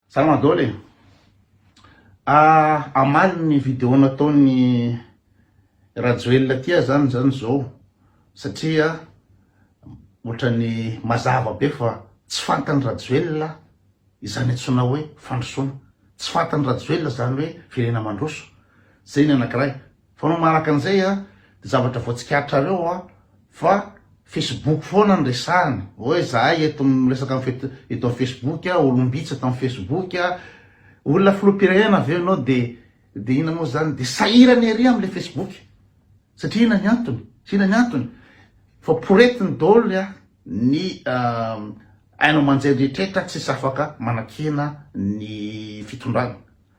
Salama dôly e! Ah hamaly ny video nataon'i Rajoelina ty aho zany zany zao satria otrany mazava be fa tsy fantan'i Rajoelina izany antsoina hoe fandrosoana, tsy fantan'i Rajoelina zany hoe firenena mandroso, zay ny anakiray, Fa mamaraka an'izay a, de zavatra vao tsikaritrareo a, fa Facebook foana no resahany, oe zahay eto miresaka am fet eto am Facebook a, olom-bitsy eto am Facebook a, olona filoham-pirenena ve enao de de inona moa zany, de sahirana ery am le Facebook, satria inona ny antony, satria inona ny antony, fa poretiny daholo a ny haino aman-jery rehetrretra tsisy afaka manakena ny fitondrana.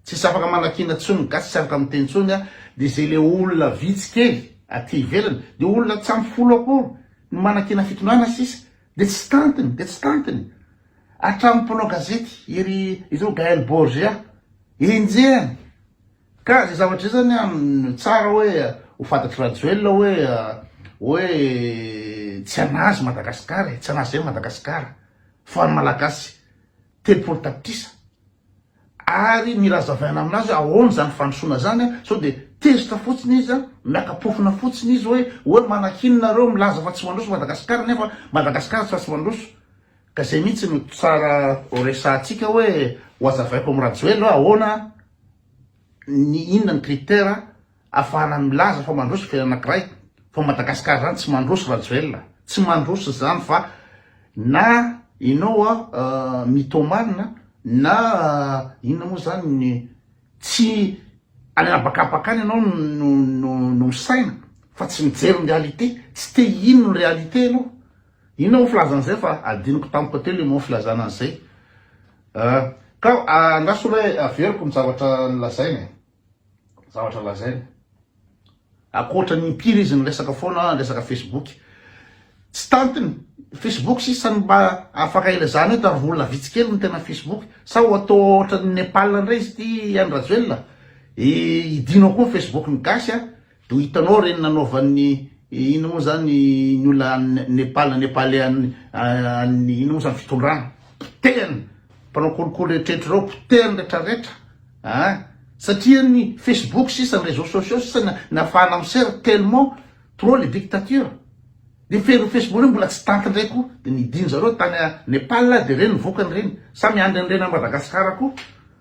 Tsisy afaka manakiana tsony ny gasy tsy afaka miteny tsony a de zay le olona vitsy kely aty ivelany de olona tsy ampy folo akory no manakiana fitondrana sisa de tsy tantiny de tsy tantiny atram mpanao gazety ery eto Gaël Borgea enjehany ka zay zavatra zay zany a tsara hoe ho fatatry Rajoelina hoe hoe tsy anazy Madagasikara e tsy anazy zay Madagasikara fa ny malagasy telopolo tapitrisa Ary mila azavaina aminazy hoe ahoana izany fandrosoana izany an, sao dia tezitra fotsiny izy an, miaka-pofona fotsiny izy hoe hoe manakiana nareo milaza fa tsy mandroso Madagasikara nefa Madagasikara tsy maintsy mandroso. Ka izay mihitsy no tsara ho resahantsika hoe ho azavaiko amin'i Rajoelina hoe ahoana an, ny inona ny critère an, Afahana milaza fa mandroso feno anakiray fa Madagascar zany tsy mandroso Rajoelina tsy mandroso zany fa na enao a mythomane na inona moa zany ny tsy any anabakabaka any enao no no misaina fa tsy mijery ny réalité tsy te hino ny réalité enao inona moa filazana zay fa adinoko tampoka teo le mot filazana an'izay ka andraso lay averiko ny zavatra nolazaina e. zavatra lazainy. Akoatra ny mpihira izy niresaka foana niresaka Facebook. Tsy tantiny Facebook sisa ny mba afaka ilazana eto ary vola vitsy kely ny tena Facebook. Sa ho atao ohatran'ny Nepal indray izy ity Andry Rajoelina? Hidino koa ny Facebook ny gasy a! Do hitanao reny nanaovan'ny inona moa zany ny olona any Nepal Nepalais any any inona moa zany fitondrana potehiny mpanao kolikoly rehetrrehetra reo potehiny rehetra rehetra ah satria ny Facebook sisa ny réseaux sociaux sisa ny nafahana misera tellement trop le dictature de fe reo Facebook reo mbola tsy tanty ndray ko de nidiny zareo tany Nepal de reny ny vokany reny sa miandry an'ireny any Madagascar ko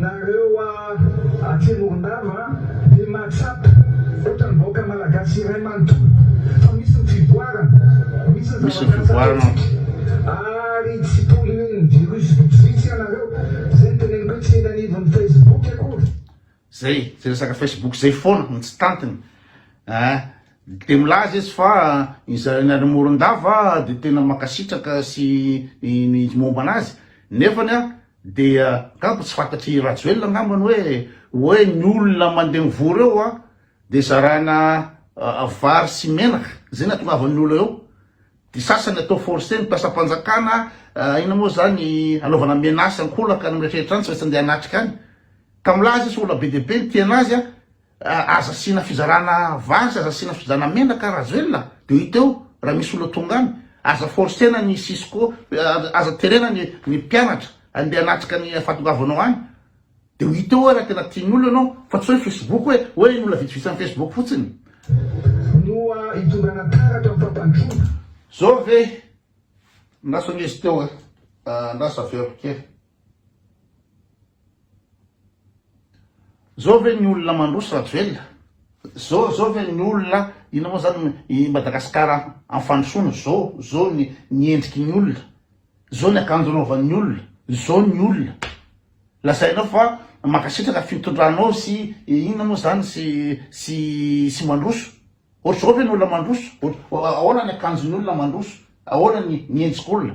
Nareo a aty morondava dia mahatsap otrany vahoaka malagasy iray manontolo fa misy ny fivoarana misy ny zava-kansa ataontsika ary tsy polluer ny virus vitsivitsy ianareo zay ny teneniko hoe tsy eny anivon'ny facebook akory. Zay, zay resaka facebook zay foana no tsy tantiny eh, dia milaza izy fa izay any morondava dia tena mankasitraka sy ny momba anazy nefany a, Dia angamba tsy fantatry Rajoelina angamba ny hoe hoe ny olona mandeha mivory eo a dia zarana vary sy menaka, izay no hatongavan'ny olona eo. Dia sasany atao forcer ny mpiasam-panjakana a, inona moa izany, hanaovana menace an-kolaka any mieritreritra any tsy maintsy andeha hanatrika any. Ka milaza izy fa olona be dia be ny tia anazy a, Aza asiana fizarana vary sy aza asiana fizana menaka Rajoelina de hita eo raha misy olona tonga any. Aza forcena ny cisco aza terena ny ny mpianatra andeha hanatrika ny fahatongavanao any de ho hita eo hoe raha tena tiany olona ianao fa tsy hoe facebook hoe hoe ny olona vitsivitsy am facebook fotsiny no hitondrana taratra am fampandroana. Zao ve ndraso an'izy teo eh? Ndraso aveo kely. Zao ve ny olona mandroso Rajoelina? Zao zao ve ny olona inona moa zany i Madagascar am fandrosoana zao zao ny ny endriky ny olona zao ny akanjo anaovan'ny olona zao ny olona lazainao fa mankasitraka fintondranao sy inona moa zany sy sy sy mandroso ohatry zao ve ny olona mandroso ahoana ny akanjon'ny olona mandroso ahoana ny ny endrik'olona.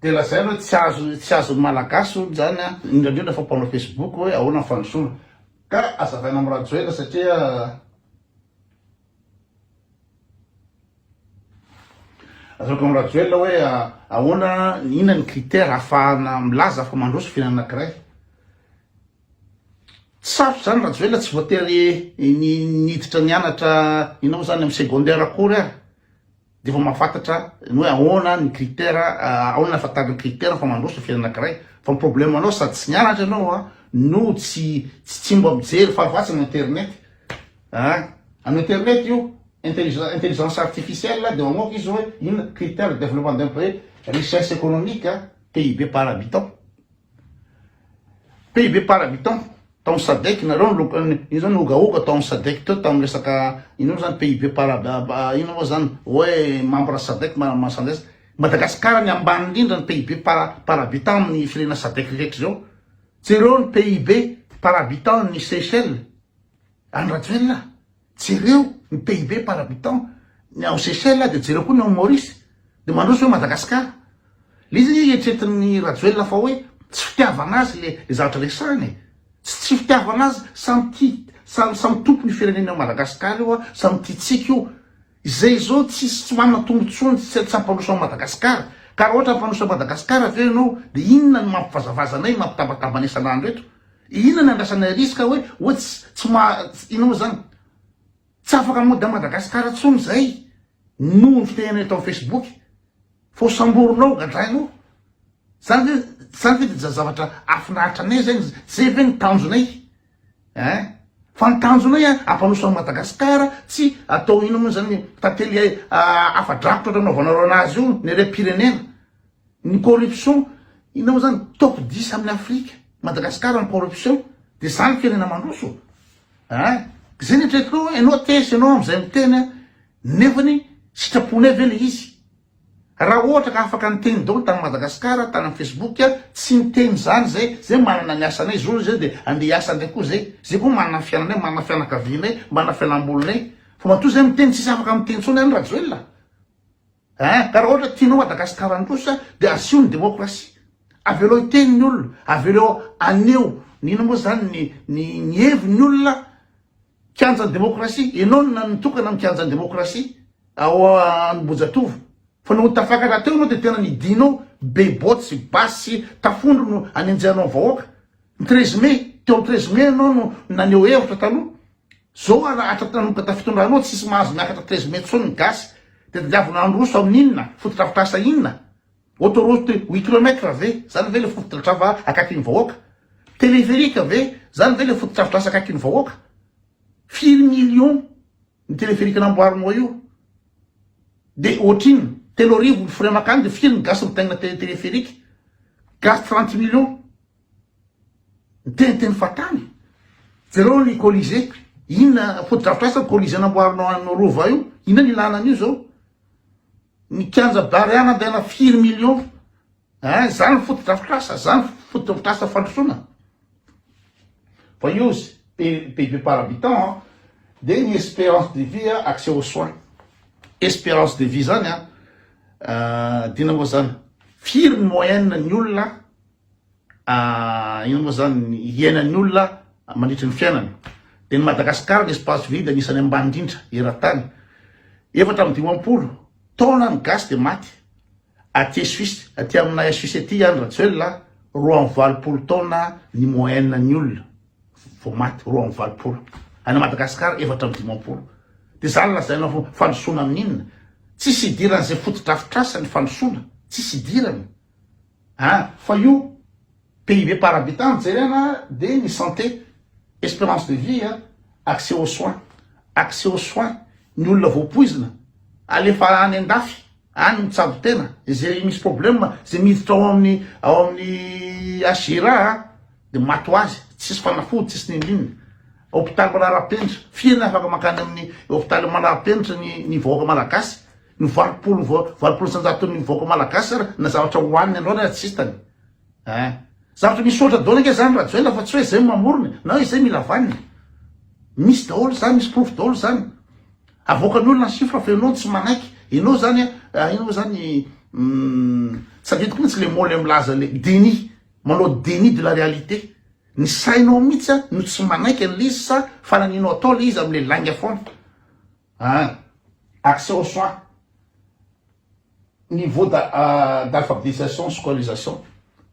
Dia lazaina hoe tsy azony tsy azon'ny Malagasy hono izany an, indrindra indrindra fa mpanao Facebook hoe ahoana ny fandrosoana. Ka azavaina amin'i Rajoelina satria. Azavaiko amin'i Rajoelina hoe ahoana, inona ny critère ahafahana milaza fa mandroso firenena anankiray. Tsy sarotra izany Rajoelina tsy voatery niditra nianatra inona moa izany amin'ny secondaire akory ary. Dia vao mahafantatra ny hoe ahoana ny critère, ahoana ny ahafantarana ny critère fa mandroso ny fiainana anankiray. Fa ny problème anao sady tsy nianatra ianao no tsy tsy mba mijery fahafatsy ny internet. An! Amin'ny internet io, intelligence artificielle dia mamoaka izy hoe inona critère de développement d'un pays, richesse économique, PIB par habitant. Pays be part habitant tao amin'ny sadec nareo niloko ino zany niogaoga tao amin'ny sadec teo tamin'ny resaka ino moa zany pays be part ino moa zany hoe membre sadec mahasandraisa Madagascar ny ambany indrindra ny pays be part part habitant amin'ny firenena sadec rehetra izao jereo ny pays be part habitant ny Seychelles any Rajoelina Jereo ny PIB par habitant ny ao Seychelles dia jereo koa ny ao Maurice dia mandroso hoe Madagascar le izy anie eritreretin'ny Rajoelina fa hoe tsy fitiavana azy le le zavatra resahany e! tsy tsy fitiavana azy samy tia samy samy tompony io firenena ao Madagascar io a samy tiantsika io izay zao tsisy tsy manana tombotsoany tsy tsy hampandroso an'i Madagascar ka raha ohatra hampandroso an'i Madagascar ve ianao dia inona no mampivazavaza anay mampitabataba anay isan'andro eto Inona ny andrasanay riska hoe hoe tsy tsy ma tsy inona moa izany? Tsy afaka mody any Madagasikara intsony izay noho ny fiteheranay tao amin'ny Facebook fa ho samborinao, gadrainao. Izany ve izany ve dia zavatra hahafinaritra anay izay? Izay ve ny tanjonay eh? Fa ny tanjonay an, hampandroso an'i Madagasikara, tsy atao inona moa izany, tantely afa-drakotra ohatran'ny anaovanareo anazy io ny harem-pirenena. Ny corruption inona zany top dix aminy afrika Madagascar am corruption de zany firenena mandroso hein ze neritreretinao hoe enao teiso enao amizay miteny nefany sitraponay ve le izy ra ohatra ka afaka niteny daolo tany Madagascar tany am facebook tsy niteny zany zay zay manana ny asanay zoro zay de ande hiasa ndray ko zay zay ko manana fiananay manana fianakavianay manana fialambolinay fa matoa zay miteny tsisy afaka miteny tsony any rajoelina Eeh ka raha ohatra tianao Madagascar ny rosa dia asio ny democratie. Avelao hiteny ny olona, avelao aneho ny inona moa zany ny ny ny heviny ny olona, kianjan'ny democratie, ianao no nanotokana ny kianjan'ny democratie ao Ambohijatovo fa nony tafakatra teo ianao dia tena nidinao be bottes sy basses sy tafondro no anenjehanao ny vahoaka, ny treize mai, teo amin'ny treize mai ianao no naneho hevitra taloha Zao ara atra tanomboka fitondra loha tsisy mahazo miakatra treize mai tsony ny gasy de tadiavina handroso amin inona fotodrafitrasa inona autoroute huit kilomètre ve zany ve le fotodratrava akakin vahoaka telepherique ve zany ve le fotodrafitrasa akakin vahoaka firy million ny telepherique namboarinao io de otrin telo arivo ny frais makany de firy ny gasy mitaingina telepherique gasy trente million Miteniteny fahatany. Jereo ny colisée. Inona fotodrafitrasa ny colisée namboarinao any rova io? Inona ny ilana an'io zao? Ny kianja barea nandeana firy millions? Hein, eh, zany fotodrafitrasa, zany fotodrafitrasa fandrosoana. Voyons, PIB par habitant, dia ny espérance de vie, accès aux soins. Espérance de vie zany, eh, dinanao zany. Firy ny moyenne ny olona inona moa zany ny iainan'ny olona mandritry ny fiainana dia ny Madagasikara ny espace vide anisany ambany indrindra eran-tany efatra amin'ny dimampolo taona ny gasy dia maty aty Suisse aty amina Suisse aty ihany Rajoelina roa amby valopolo taona ny moyenne ny olona vao maty roa amby valopolo any Madagasikara efatra amin'ny dimampolo dia zany lazaina ho fandrosoana amin'inona tsisy idiran'izay fotodrafitrasa ny fandrosoana tsisy idirana Hein fa io PIB par habitant jerena dia ny santé, espérance de vie a, accès aux soins, accès aux soins, ny olona voapoizina alefa any andafy any mitsabo tena, izay misy problème izay miditra ao amin'ny ao amin'ny HIRA a dia maty ho azy, tsisy fanafody, tsisy n'inon'inona. Hôpital Manarapenitra, firy ny afaka mankany amin'ny hôpital Manarapenitra ny ny vahoaka malagasy? Ny valopolo valopolo isan-jaton'ny mivaoka malagasy ary na zavatra hohaniny androany ary tsy hitany eh! Zavatra misy ohatra daholo ange zany Rajoelina fa tsy hoe izay no mamorona na izay mila vaniny. Misy daholo zany, misy porofo daholo zany. Avoakan'ny olona ny chiffre fa ianao tsy manaiky. Ianao zany ah, ino moa zany hmm, tsy adidiko mihitsy le mot le milaza le déni, manao déni de la réalité. Ny sainao mihitsy no tsy manaiky an'ilay izy sa fananianao atao le izy amin'ilay lainga foana. An! Accès aux soins, niveau d'alphabétisation, scolarisation,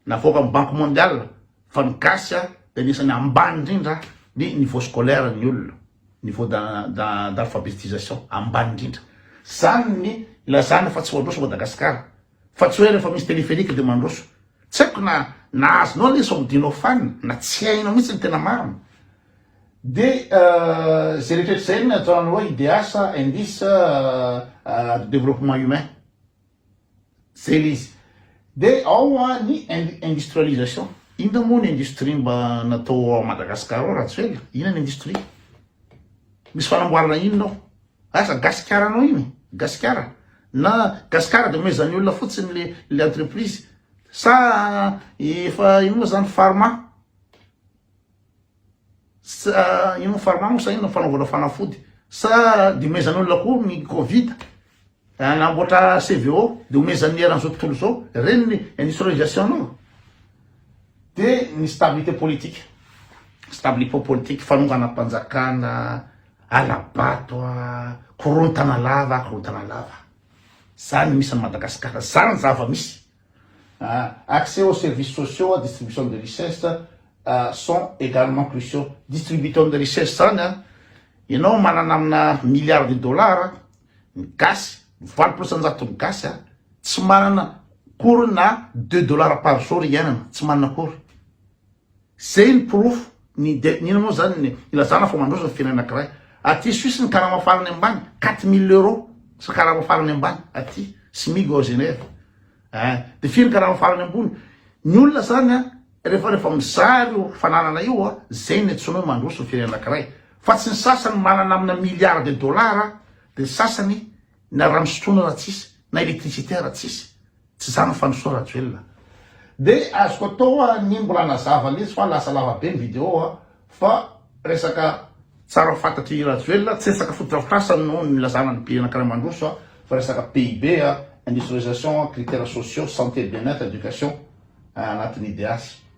navoaka ny banque mondiale fa ny gasy dia anisan'ny ambany indrindra ny niveau scolaire ny olona, niveau d'alphabétisation ambany indrindra, izany ny ilazana fa tsy ho androso Madagascar Fa tsy hoe rehefa misy téléphérique dia mandroso. Tsy haiko na na azonao anie sao midinao fan na tsy hainao mihitsy ny tena marina. Dia izay rehetrarehetra izay no ianjaranao hoe IDH, indice de développement humain. Izay ilay izy. Dia ao ny industrialisation. Inona moa ny industrie mba natao ao Madagascar ao Rajoelina? Inona ny industrie? Misy fanamboarana inona ao? Aza gasikara anao iny gasikara na gasikara de omezany olona fotsiny le le entreprise sa efa ino moa zany pharma sa ino pharma moa sa ino fanaovana fanafody sa de omezany olona koa ny covid anamboatra CVO de omezany eran'izao tontolo zao reny ny industrialisation nao de ny stabilité politique stabilité politique fanonganam-panjakana Alabato a, korontana lava a, korontana lava a. Zany misy an'i Madagasikara, zany zava-misy. Accès aux services sociaux, distribution des richesses sont également cruciaux. Distributeur des richesses zany a, ianao manana amina milliard de dollars, ny gasy, valopolo isan-jaton'ny gasy a, tsy manana akory na deux dollars par jour hiainana, tsy manana akory. Zay ny porofo ny dette ny ina moa zany ny ilazana fa mandroso ny firenena anakiray aty suisse ny karama farany ambany quatre mille euro sy karama farany ambany aty smig ao geneve eh de firy ny karama farany ambony ny olona zany a refa refa mizary io fananana io a zay ny antsoina hoe mandroso ny firenena anakiray fa tsy ny sasany manana amina milliard de dollars de ny sasany na rano sotroina raha tsisy na electricité raha tsisy Tsy zany Fanosoa Rajoelina. De azoko atao hoa ny mbola nazava letsy fa lasa lava be ny video hoa fa resaka. Tsara fantatr i Rajoelina tsy resaka fotodrafitrasa no nilazana ny bilan ankiray mandroso a fa resaka PIB a, industrialisation a, critères sociaux, santé, bien être, education a anatin ny ideasy.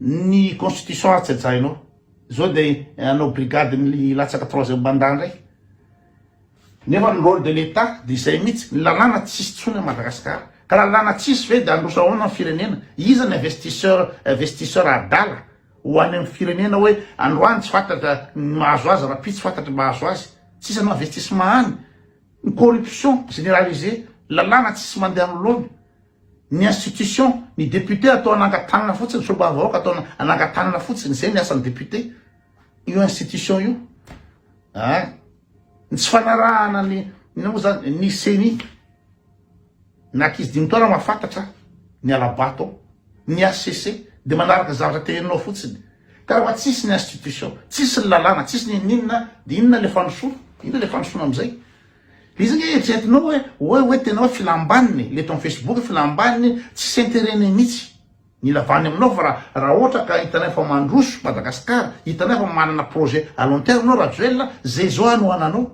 Ny constitution atsy ajainao zao de anao brigade ny latsaka troisième mandat ndray nefa ny role de l'etat de izay mitsy ny lalàna tsisy tsony a Madagascar ka raha lalàna tsisy ve de handroso ahoana ny firenena iza ny investisseur investisseur adala ho any am firenena hoe androany tsy fatatra ny mahazo azy raha pitsy tsy fatatra ny mahazo azy tsisy anao investissement any ny corruption generalisee lalàna tsisy mandeha am lona ny institution, ny député atao anangan-tanana fotsiny, solombavambahoaka atao anangan-tanana fotsiny, zay ny asan'ny député, io institution io, ah, ny tsy fanarahana ny, inona moa zany, ny CENI, na ankizy dimy taona mahafantatra ny alabato ao, ny HCC, de manaraka zavatra teninao fotsiny, ka raha tsisy ny institution, tsisy ny lalàna, tsisy ny inona inona, de inona le fandrosoana, inona le fandrosoana amizay, Izy ange eritreretinao hoe hoe hoe tena hoe filam-baniny e! le eto amin'ny Facebook filam-baniny tsy s'interene mihitsy ny ilavany aminao fa raha raha ohatra ka hitanay fa mandroso Madagascar hitanay fa manana projet à long terme anao Rajoelina zay zao hanohananao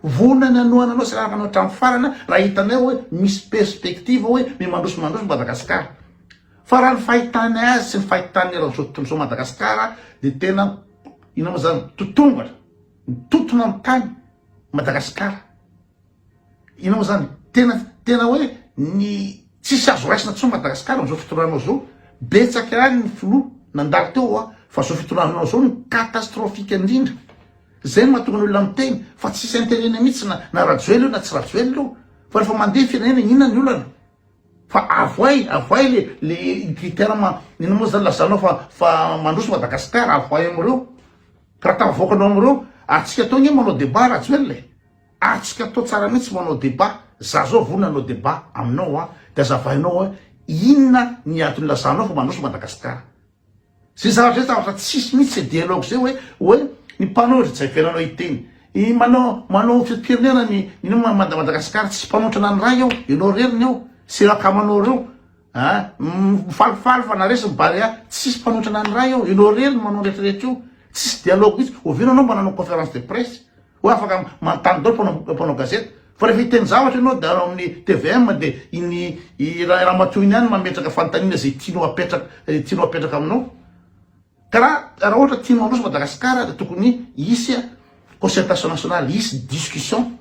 vonona ny hanohananao sy raraka anao hatramin'ny farana raha hitanay hoe misy perspective hoe mi mandroso mandroso Madagascar fa raha ny fahitanay azy sy ny fahitan'ny Rajototonizao Madagascar dia tena inona moa zany totongatra Mitontona am tany Madagascar ianao zany tena tena hoe ny tsisy azo raisina tsony Madagascar amzao fitondranao zao betsaka any ny filoha nandalo teo hoa fa zao fitondranao zao no catastrophique ndrindra zay no mahatonga ny olona miteny fa tsisy interene mitsy na na Rajoel io na tsy Rajoel io fa refa mande ny firenena inona ny olana fa avoay avoay le le terme inona moa zany lazanao fa fa mandroso Madagascar avoay amreo. Ka tavaokany ao amin'ireo, atsika tao nge manao debat Rajoelina e! atsika tao tsara mihitsy manao debat, za zao vonona hanao debat aminao a! de azavainao hoe inona ny ady nilazanao fa mandroso Madagascar? zay zavatra zay zavatra tsisy mihitsy zay dialogue zay hoe hoe ny mpanao ry zay velanao hiteny i manao manao fetim-pirenena ny ny Madagascar tsy mpanotrana ny raha eo ianao rery ny eo sy ny akamanao reo Aa mifalifaly fa naresy ny barea tsisy mpanohitra anan'ny ray ao ianao irery no manao ny rehetrarehetra io tsisy dialogue mihitsy ovino anao mba nanao conférence de presse hoe afaka manontany daholo mpanao mpanao gazety fa rehefa hiteny zavatra ianao dia ao amin'ny tvm dia iny i ra- ramatoa iny ihany mametraka fanontaniana izay tianao hapetraka eh, tianao hapetraka aminao ka raha raha ohatra tianao handroso madagasikara dia tokony hisy eh, concertation nationale hisy discussion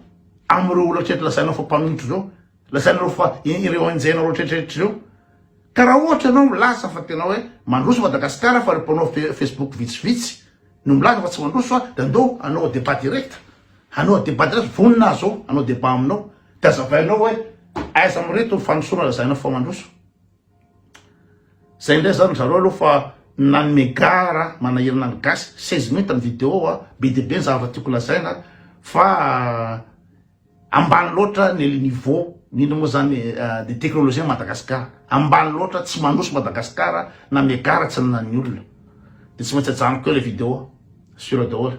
amin'ireo olona hatreto lazainao fa mpanohitra ireo Lazainareo fa ireo enjehina roatreritreritry ireo? Ka raha ohatra ianao milaza fa tena hoe mandroso Madagascar fa ireo mpanao facebook vitsivitsy no milaza fa tsy mandroso a de andao anao debat direct anao debat direct vonona aza ao anao debat aminao de azavainao hoe aiza amin'ireto ny fandrosoana lazainao fa mandroso zay indray zany zareo aloha fa nanome gara manahirana ny gasy 16 minutes ny video a be dia be ny zavatra tiako lazaina fa Ambany loatra ny le niveau nino moa zany de technologie à Madagascar ambany loatra tsy manosy Madagascar na megara tsy nanan'ny olona de tsy maintsy ajanoko eo le video sur daholo.